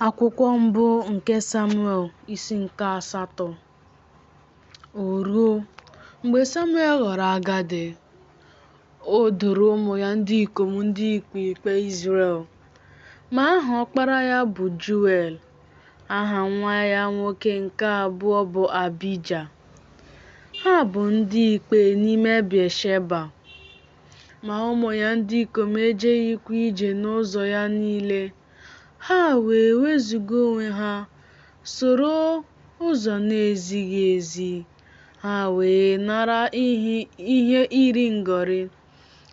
Akwụkwọ mbụ nke Samuel isi nke asatọ O ruo, mgbe Samuel ghọrọ agadi, o doro ụmụ ya ndị ikom ndị ikpe ikpe Izrel. Ma aha ọkpara ya bụ Joel, aha nwa ya nwoke nke abụọ bụ Abija. Ha bụ ndị ikpe n'ime Bịasheba. ma ụmụ ya ndị ikom ejeghịkwa ije n'ụzọ ya niile. Ha wee wezuga onwe ha, soro ụzọ na-ezighị ezi, ha wee nara ihe iri ngọrị,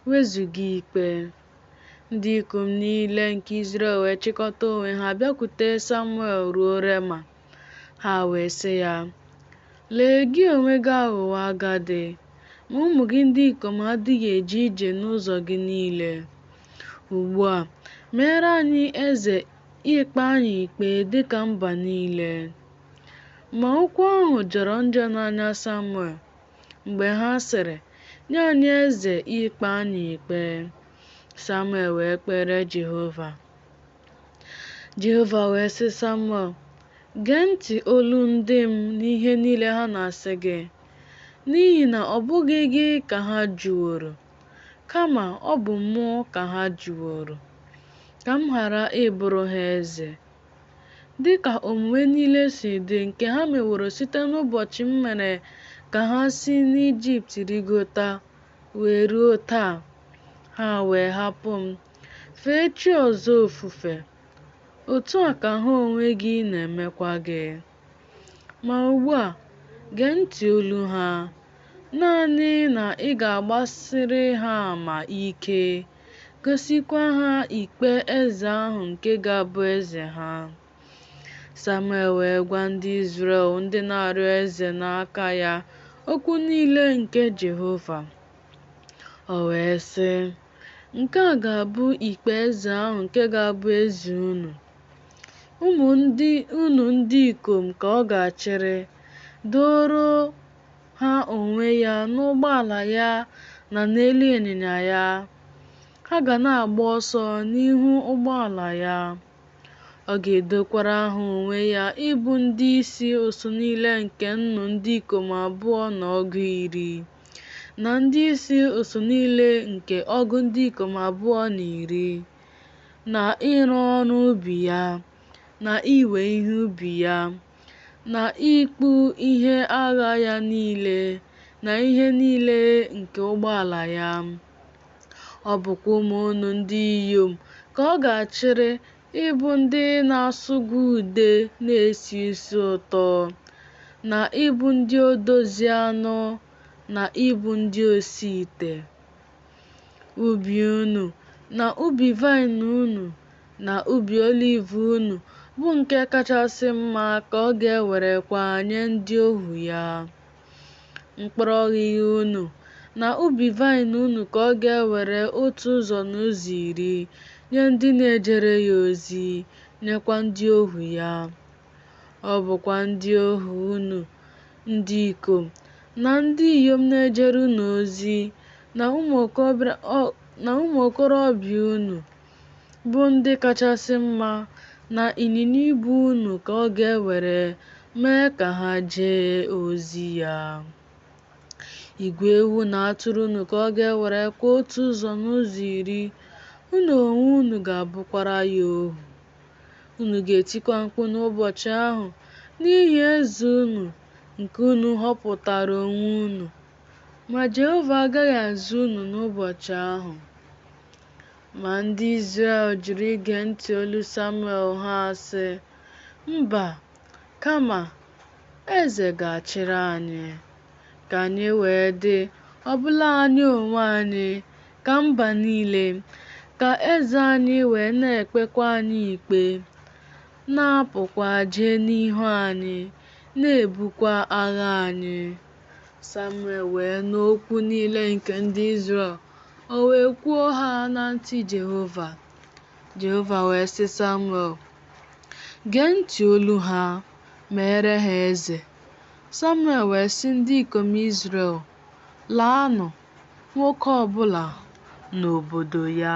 wezuga ikpe. Ndị ikom niile nke Izrel wee chịkọta onwe ha bịakwute Samuel ruo Rema. Ha wee sị ya, Lee, gị onwe gị aghọwo agadi, ma ụmụ gị ndị ikom adịghị eje ije n'ụzọ gị niile. Ugbu a, meere anyị eze ikpe anyị ikpe dị ka mba niile. Ma okwu ahụ jọrọ njọ n'anya Samuel mgbe ha sịrị, Nye anyị eze ikpe anyị ikpe. Samuel wee kpeere Jehova. Jehova wee sị Samuel, Gee ntị olu ndị m n'ihe niile ha na-asị gị, n'ihi na ọ bụghị gị ka ha jụworo, kama ọ bụ mụ ka ha jụworo, ka m ghara ịbụrụ ha eze. Dị ka omume niile si dị nke ha meworo site n'ụbọchị m mere ka ha si n'Ijipt rigota wee ruo taa, ha wee hapụ m. Fee chi ọzọ ofufe, otu a ka ha onwe gị na-emekwa gị. Ma ugbu a, gee ntị olu ha, naanị na ị ga-agbasiri ha ama ike, gosikwa ha ikpe eze ahụ nke ga-abụ eze ha. Samuel wee gwa ndị Izrel ndị na-arịọ eze n'aka ya okwu niile nke Jehova. O wee sị, Nke a ga-abụ ikpe eze ahụ nke ga-abụ eze unu. Ụmụ unu ndị ikom ka ọ ga-achịrị, doro ha onwe ya n'ụgbọala ya na n'elu ịnyịnya ya. Ha ga na-agba ọsọ n'ihu ụgbọala ya. Ọ ga-edokwara ha onwe ya ịbụ ndị isi usuu niile nke nnụ ndị ikom abụọ na ọgụ iri, na ndị isi usuu niile nke ọgụ ndị ikom abụọ na iri, na ịrụ ọrụ ubi ya, na iwe ihe ubi ya, na ịkpụ ihe agha ya niile, na ihe niile nke ụgbọala ya. Ọ bụkwa ụmụ unu ndị inyom ka ọ ga-achịrị ịbụ ndị na-asụgwa ude na-esi isi ụtọ, na ịbụ ndị odozi anụ, na ịbụ ndị osi ite. Ubi unu, na ubi vaịn unu, na ubi oliv unu, bụ nke kachasị mma ka ọ ga-ewerekwa nye ndị ohu ya. mkpụrụ ọghịgha unu, na ubi vaịn unu ka ọ ga-ewere otu ụzọ n'ụzọ iri nye ndị na-ejere ya ozi, nyekwa ndị ohu ya. Ọ bụkwa ndị ohu unu, ndị ikom na ndị inyom na-ejere unu ozi, na ụmụ okorobịa unu bụ ndị kachasị mma, na ịnyịnya ibu unu ka ọ ga-ewere mee ka ha jee ozi ya. Igwe ewu na atụrụ unu ka ọ ga-ewerekwa otu ụzọ n'ụzọ iri, unu onwe unu ga-abụkwara ya ohu. Unu ga-etikwa mkpu n'ụbọchị ahụ n'ihi eze unu nke unu họpụtara onwe unu, ma Jehova agaghị aza unu n'ụbọchị ahụ. Ma ndị Izrel jụrụ ige ntị olu Samuel ha asị, Mba, kama eze ga-achịrị anyị, ka anyị wee dị ọbụla anyị onwe anyị ka mba niile, ka eze anyị wee na-ekpekwa anyị ikpe, na-apụkwa jee n'ihu anyị, na-ebukwa agha anyị. Samuel wee nụ okwu niile nke ndị Izrel, o wee kwuo ha na ntị Jehova. Jehova wee sị Samuel, Gee ntị olu ha, meere ha eze. Samuel wee sị ndị ikom Izrel, Laanụ, nwoke ọ bụla n'obodo ya.